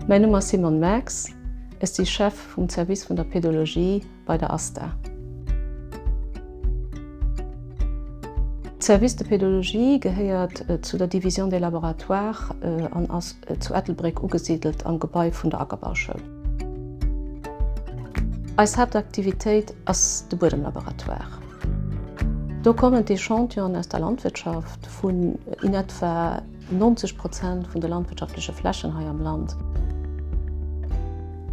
Mäin Numm ass Simon Max, ech si Chef vum Service vun der Pedologie bei der ASTA. De Service de Pedologie gehéiert zu der Division des laboratoires an ass zu Ettelbréck ugesidelt am Gebai vun der Ackerbauschoul. Eis Haaptaktivitéit ass de Buedemlaboratoire. Do kommen d'Echantion'en aus der Landwirtschaft vun in etwa 90 Prozent vun de landwirtschaftleche Flächen hei am Land.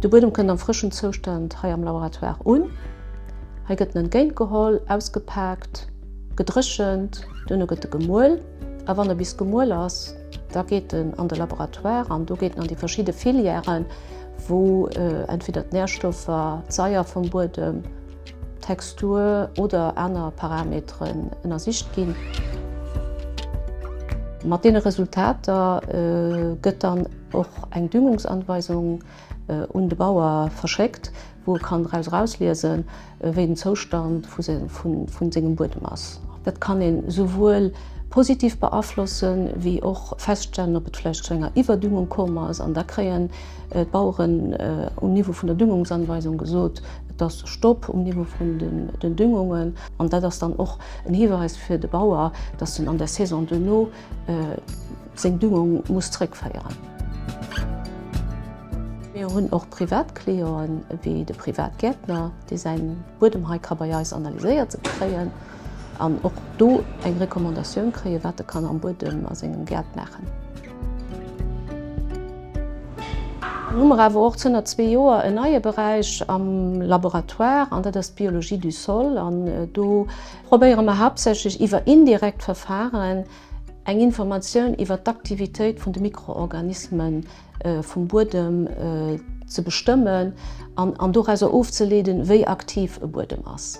De Buedem kënnt am frëschen Zoustand hei am Laboratoire un. Hei gëtt en entgéintgeholl, ausgepaakt, gedréchent, duerno gëtt e gemuel a wann e bis gemuel ass, Da geet en an de Laboratoire an do geet en an déi verschidde Filièren, wou entweder d'Närstoffer, d'Saier vum Buedem, d'Textur oder aner Parameteren ënnersicht ginn. Mat deene Resultater gëtt dann och eng Düngungsanweisung Un de Bauer verschéckt, wou e kann draus erausliesen, wéi den Zoustand vu sengem Buedem ass. Dat kann een esouwuel positiv beaflossen, wéi och feststellen, ob et vläicht zu enger Iwwerdüngung komm ass. An da kréien d'Baueren um Niveau vun der Düngungsanweisung gesot, Et ass Stopp um Niveau vun den Düngungen. An dat ass dann och en Hiweis fir de Bauer, dass en an der Saison duerno seng Düngung muss zréckféieren. Mir hunn och privat Clienten, wéi de Privatgäertner, dee säin Buedem hei ka bei eis analyséiert kréien an och do eng Recommandatioun kréien, wat e kann am Buedem a sengem Gäert maachen. Dann hu mer awer och zënner zwee Joer en neie Beräich am Laboratoire an dat ass d'Biologie du sol an do, probéiere mer haaptsächlech iwwer indirekt Verfaren eng Informatioun iwwer d'Aktivitéit vun de Mikroorganisme vum Buedem ze bestëmmen an dorauser ofzeleeden, wéi aktiv e Buedem ass.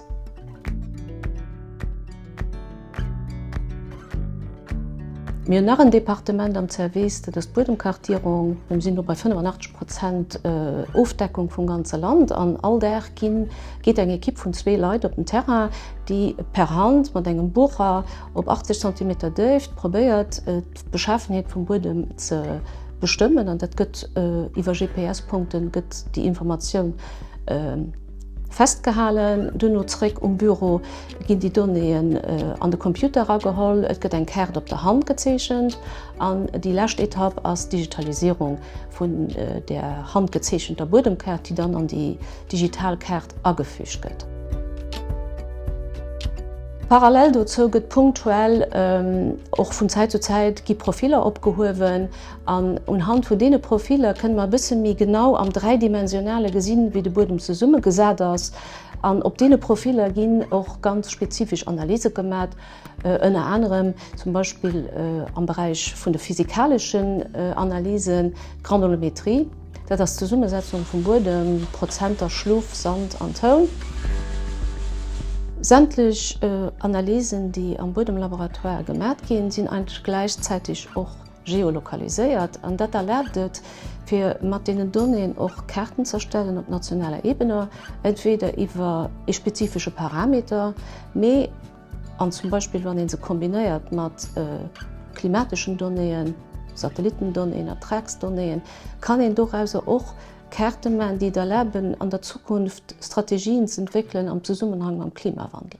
Mir hunn nach en Departement am Zerwiss, dat ass d'Buedemkartierung. Mir sinn elo bei 85 Prozent Ofdeckung vum ganze Land an all Dag ginn, geet eng Ekipp vun zwee Leit op den Terrain, déi per Hand mat engem Bucher op 80 Zentimeter Déift probéiert, d'Beschafenheet vum Buedem ze bestëmmen. An dat gëtt iwwer GPS-Punkte gëtt déi Informatioun festgehalen. Duerno zeréck um Büro ginn déi Donnéeën an de Computer erageholl, et gëtt eng Kaart op der Hand gezeechent An déi lescht Etapp ass d'Digitalisierung vun der handgezeechenter Buedemkaart, déi dann an déi digital Kaart agefügt gëtt. Parallel dozou gëtt punktuell och vun Zäit zu Zäit gi Profiller opgehuewen an unhand vun deene Profiller kënne mer e bësse méi genau am dräidimensionale gesinn, wéi de Buedem zesummegesat ass. An op deene Profiller ginn och ganz spezifesch Analyse gemat. ënner anerem zum Beispill am Beräich vun de physikaleschen Analysen, d'Granulometrie, dat ass d'Zesummesetzung vum Buedem, Prozenter Schluff, Sand an Toun. Sämtlech Analysen, déi am Buedemlaboratoire gemat ginn, sinn eigentlech gläichzäiteg och geolokaliséiert an dat erlaabt et, fir mat deenen Donnéeën och Kaarten z'erstellen op nationaler Ebene, entweder iwwer ee spezifesche Parameter, mee. An zum Beispill wann ee se kombinéiert mat klimateschen Donnéeën, Satellitendonnéeën, Ertragsdonnéeën, kann een dorauser och Kaarte maachen, déi et erlaben, an der Zukunft Strategien ze entwéckelen am Zesummenhang mam Klimawandel.